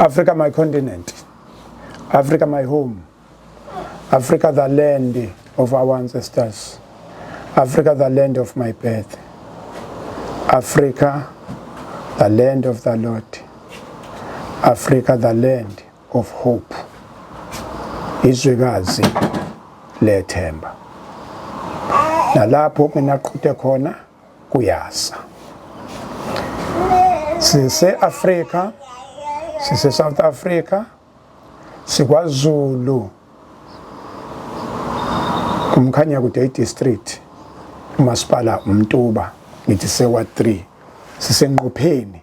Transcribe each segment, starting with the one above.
Africa my continent. Africa my home. Africa the land of our ancestors. Africa the land of my birth. Africa the land of the Lord. Africa the land of hope. Izwekazi lethemba. Nalapho mina qhuthe khona kuyasa sise-afrika sise-south africa sikwazulu umkhanya kude idistrict umasipala umtuba ngithi sewa 3 sisenqopheni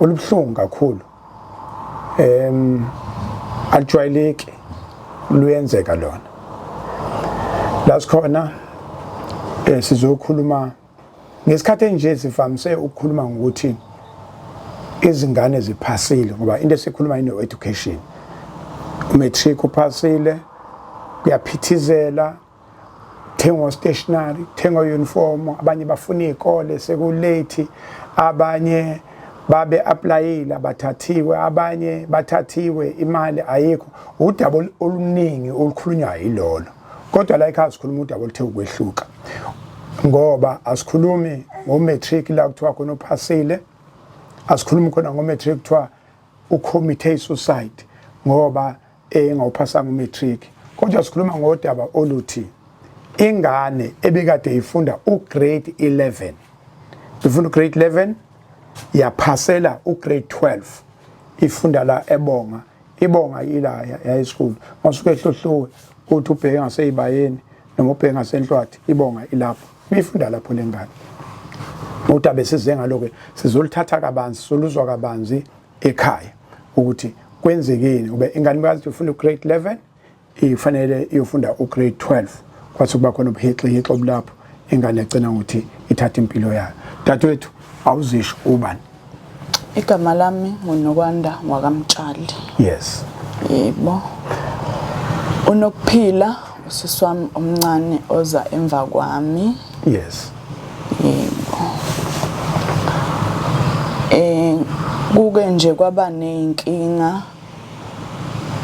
olubuhlungu kakhulu em alijwayeleki luyenzeka lona la sikhona eh, sizokhuluma ngesikhathi enje sivamise ukukhuluma ngokuthi izingane ziphasile ngoba into esikhuluma ino education matric uphasile kuyaphithizela thengwa stationary thengwa uniform abanye bafuna izikole sekulate abanye babe applyile abathathiwe abanye bathathiwe imali ayikho udaba oluningi olukhulunywa yilolo kodwa la ekhaya sikhuluma udaba oluthe ukwehluka ngoba asikhulumi ngomatric la kuthiwa khona uphasile asikhulumi khona ngomatric kuthiwa ucommithe isuicide ngoba engawuphasanga umatric kodwa sikhuluma ngodaba oluthi ingane ebikade ifunda ugrade 11 ifunda ugrade 11 yaphasela ugrade 12 ifunda la ebonga ibonga ila high school masuke ehlohluwe uthi ubheke ngaseyibayeni noma ubheke ngasenhlwathi ibonga ilapho Bifunda lapho lengane. Uthi abesize ngalo ke sizolithatha kabanzi soluzwa kabanzi ekhaya ukuthi kwenzekeni ube ingane bazi ufuna ugrade 11 ifanele iyofunda ugrade 12 kwathi kuba khona ubuhixihixo obulapho ingane egcina ngokuthi ithatha impilo yayo dadewethu awuzisho ubani Igama lami nguNokwanda wakamtshali. Yes. Yebo. Unokuphila usisi wami omncane oza emva kwami. Yes. Yebo. Eh kuke nje kwaba nezinkinga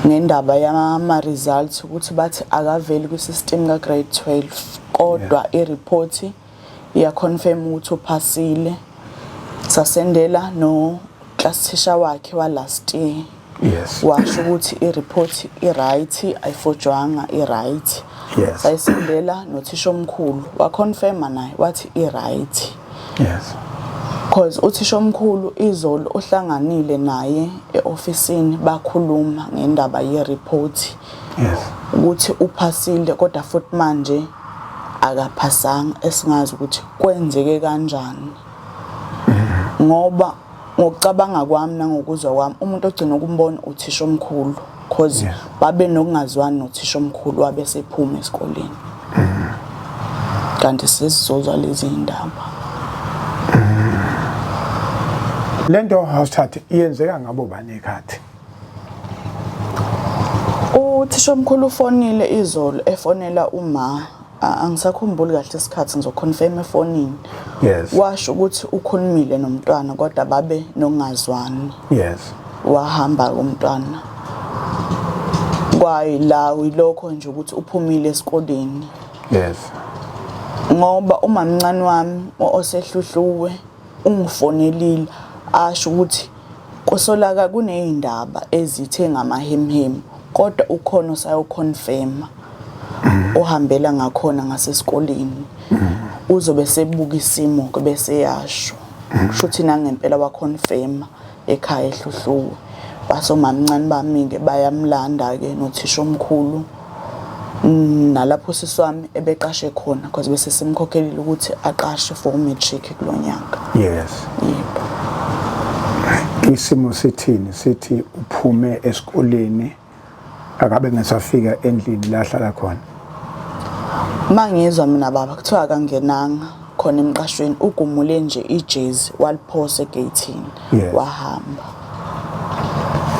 ngendaba yama results ukuthi bathi akaveli kwi system ka grade 12 kodwa i report yeah. iya confirm ukuthi uphasile sasendela no class teacher wakhe wa last year yes washo ukuthi i report i right ayifojwanga i right yes sayisendela nothisha omkhulu wa confirm naye wathi i right yes because uthisha omkhulu izolo ohlanganile naye eofisini bakhuluma ngendaba ye report yes ukuthi uphasile kodwa futhi manje akaphasanga esingazi ukuthi kwenzeke kanjani ngoba ngokucabanga kwami nangokuzwa kwami umuntu ogcina ukumbona uthisha omkhulu because babe nokungazwani nothisha omkhulu wabe sephuma esikoleni kanti sesizozwa lezi ndaba lento house chat iyenzeka ngabo bani ekhathi Uthishomkhulu ufonile izolo efonela uma angisakhumbuli kahle isikhathi ngizoconfirm efonini yes washo ukuthi ukhulumile nomntwana kodwa babe nongazwani yes wahamba umntwana kwayi la uyilokho nje ukuthi uphumile esikoleni yes ngoba umamncane wami osehluhluwe ungifonelile asho ukuthi Kusolaka kuneyndaba ezithe ngamahemhemu kodwa ukhona osayo confirma ohambela ngakhona ngasesikoleni uzobe sebuka isimo ke bese yasho kusho ukuthi nangempela wa confirma ekhaya ehluhluwe basomamncane bami ke bayamlanda ke nothisha omkhulu Mm, nalapho usisi wami ebeqashe khona because bese simkhokhelile ukuthi aqashe for matric kulo nyaka yes yebo isimo sithini sithi uphume esikoleni akabe ngesafika endlini la hlala khona mangizwa mina baba kuthiwa akangenanga khona emqashweni ugumule nje ijezi waliphosa egeyithini Yes. wahamba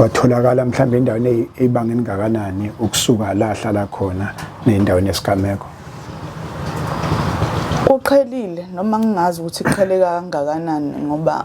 watholakala mhlawumbe endaweni eyi- eyibanga elingakanani ukusuka la ahlala khona nendaweni yesigameko kuqhelile noma ngingazi ukuthi kuqheleka kangakanani ngoba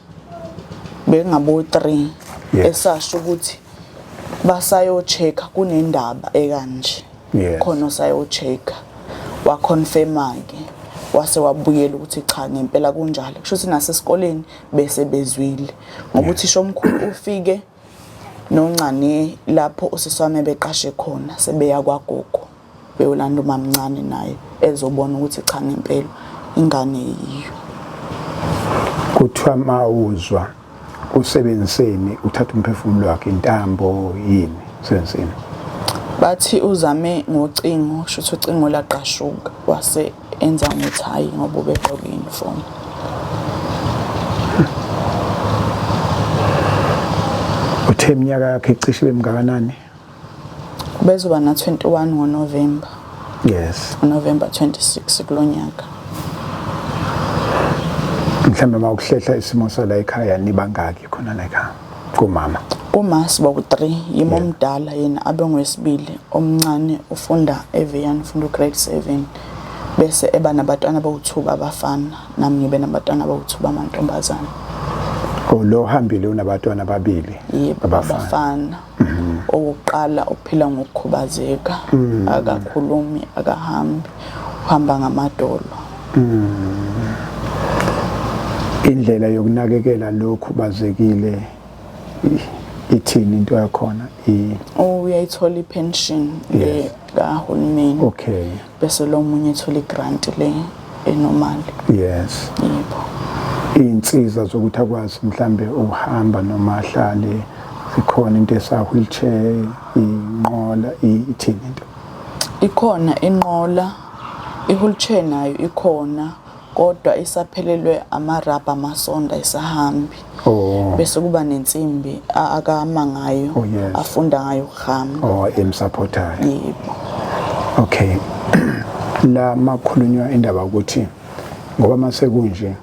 bengabo 3 esasho ukuthi basayo check kunendaba ekanje khona osayo check wa confirm ke wase wabuyela ukuthi cha ngempela kunjalo kusho ukuthi nasesikoleni bese bezwile ngokuthi shomkhulu ufike noncane lapho usisi wami ebeqashe khona sebeya kwagogo beyolanda umamncane naye ezobona ukuthi cha ngempela ingane yiyo kuthiwa mawuzwa usebenziseni uthatha umphefumulo wakhe intambo yini senzeni bathi uzame ngocingo shuthi ucingo laqashuka wase enza ngokuthi hhayi ngoba ubegqoke i-uniform uthe iminyaka yakhe icishe ibe mngakanani ubezoba na-21 ngonovemba yes ngonovemba 26 kulo nyaka mhlawumbe uma ukuhlehla isimo sala ekhaya nibangaki khona la ekhaya kumama uma siba ku-3 yimo omdala yena abe ngowesibili omncane ufunda evian ufunda ugrade 7 bese eba nabatwana bawuthuba abafana nami ngibe nabatwana bawuthuba amantombazane oh, lo hambile unabatwana ababili abafana mhm. owokuqala uphila ngokukhubazeka mhm. akakhulumi akahambi uhamba ngamadolo Mm. Indlela yokunakekela lokhu bazekile ithini into yakhona i oh, uyayithola ipension le kahulumeni okay bese lo munye ethola igrant le enormal yes yebo insiza zokuthi akwazi mhlambe ukuhamba noma ahlale ikhona into esa wheelchair inqola ithini into ikhona inqola I-wheelchair nayo ikhona kodwa isaphelelwe amarabha amasonda isahambi oh. bese kuba nensimbi akama ngayo oh, yes. afunda ngayo ukuhamba oh, emsapothayo yebo okay la makhulunywa indaba ukuthi ngoba masekunje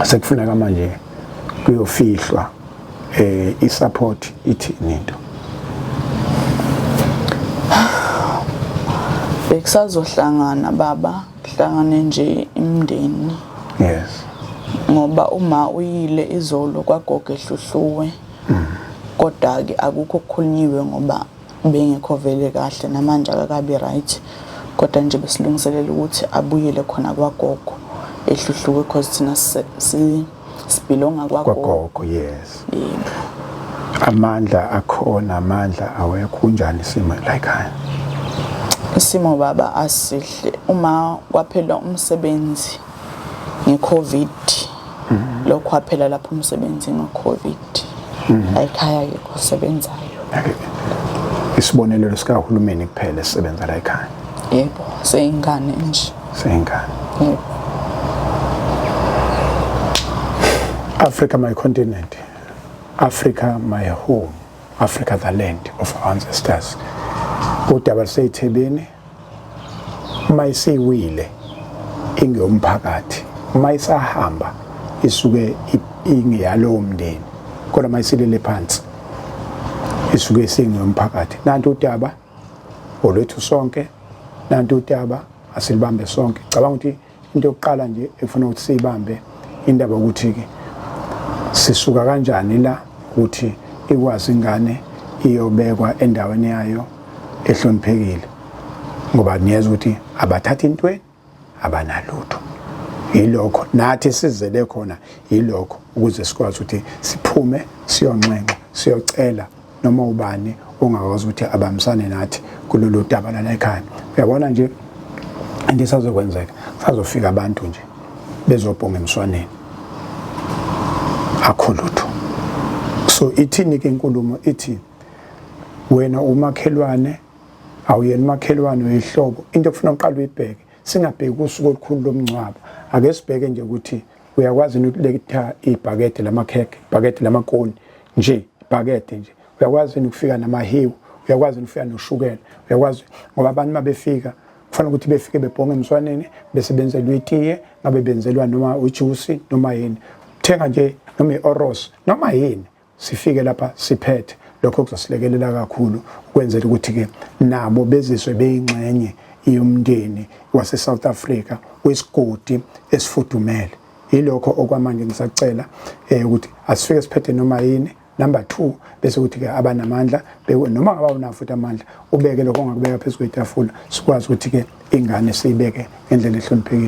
sekufuneka manje kuyofihlwa eh isupport ithini into bekusazohlangana baba kuhlangane nje imndeni yes ngoba uma uyile izolo kwagoge hluhluwe mm. kodwa ke akukho kukhulunyiwe ngoba Ubengekho vele kahle namanje akakabi right kodwa nje besilungiselela ukuthi abuyele khona kwagogo ehluhluke cause thina sibhilonga kwagogo yes yebo amandla akhona amandla awekho kunjani isimo layikhaya isimo baba asihle uma kwaphela umsebenzi ngeCovid mhm. lokho kwaphela lapho umsebenzi ngoCovid mhm. ayikhaya yikho sebenzayo isibonelelo sikahulumeni kuphela esisebenza la ekhaya yebo seyingane nje seyingane yebo Africa my continent Africa my home Africa the land of our ancestors udaba luseyithebeni uma isiwile ingeyomphakathi uma isahamba isuke ingeyalowo mndeni kodwa uma isilele phansi isuke isingeyomphakathi nanti udaba olwethu sonke nanti udaba asilibambe sonke cabanga ukuthi into yokuqala nje efuna ukuthi siyibambe indaba ukuthi-ke sisuka kanjani la ukuthi ikwazi ingane iyobekwa endaweni yayo ehloniphekile ngoba niyeza ukuthi abathathi intweni abanalutho yilokho nathi sizele khona yilokho ukuze sikwazi ukuthi siphume siyonxenxa siyocela noma ubani ongakwazi ukuthi abambisane nathi kulolu daba lana ekhaya uyabona nje into esazokwenzeka sazofika abantu nje bezobhonga emswaneni akho lutho so ithini ke inkulumo ithi wena umakhelwane awuyena umakhelwane uyihlobo into ekufuna uqala uyibheke singabheki usuku olukhulu lomngcwabo ake sibheke nje ukuthi uyakwazi yini ukuletha ibhakede lamakhekhe ibhakede lamakoni nje ibhakede nje uyakwazi yini ukufika namahiwu uyakwazi yini ukufika noshukela uyakwazi ngoba abantu uma befika kufanele ukuthi befike bebhonge emswaneni bese benzelwa itiye ngabe benzelwa noma ujusi noma yini thenga nje noma i-oros noma yini sifike lapha siphethe lokho kuzosilekelela kakhulu ukwenzela ukuthi-ke nabo bezizwe beyingxenye yomndeni wase-south africa wesigodi esifudumele yilokho okwamanje ngisacela um ukuthi asifike siphethe noma yini number two bese kuthi-ke abanamandla noma ngaba unawo futhi amandla ubeke lokho ongakubeka phezu kwetafula sikwazi ukuthi-ke ingane siyibeke ngendlela ehloniphekile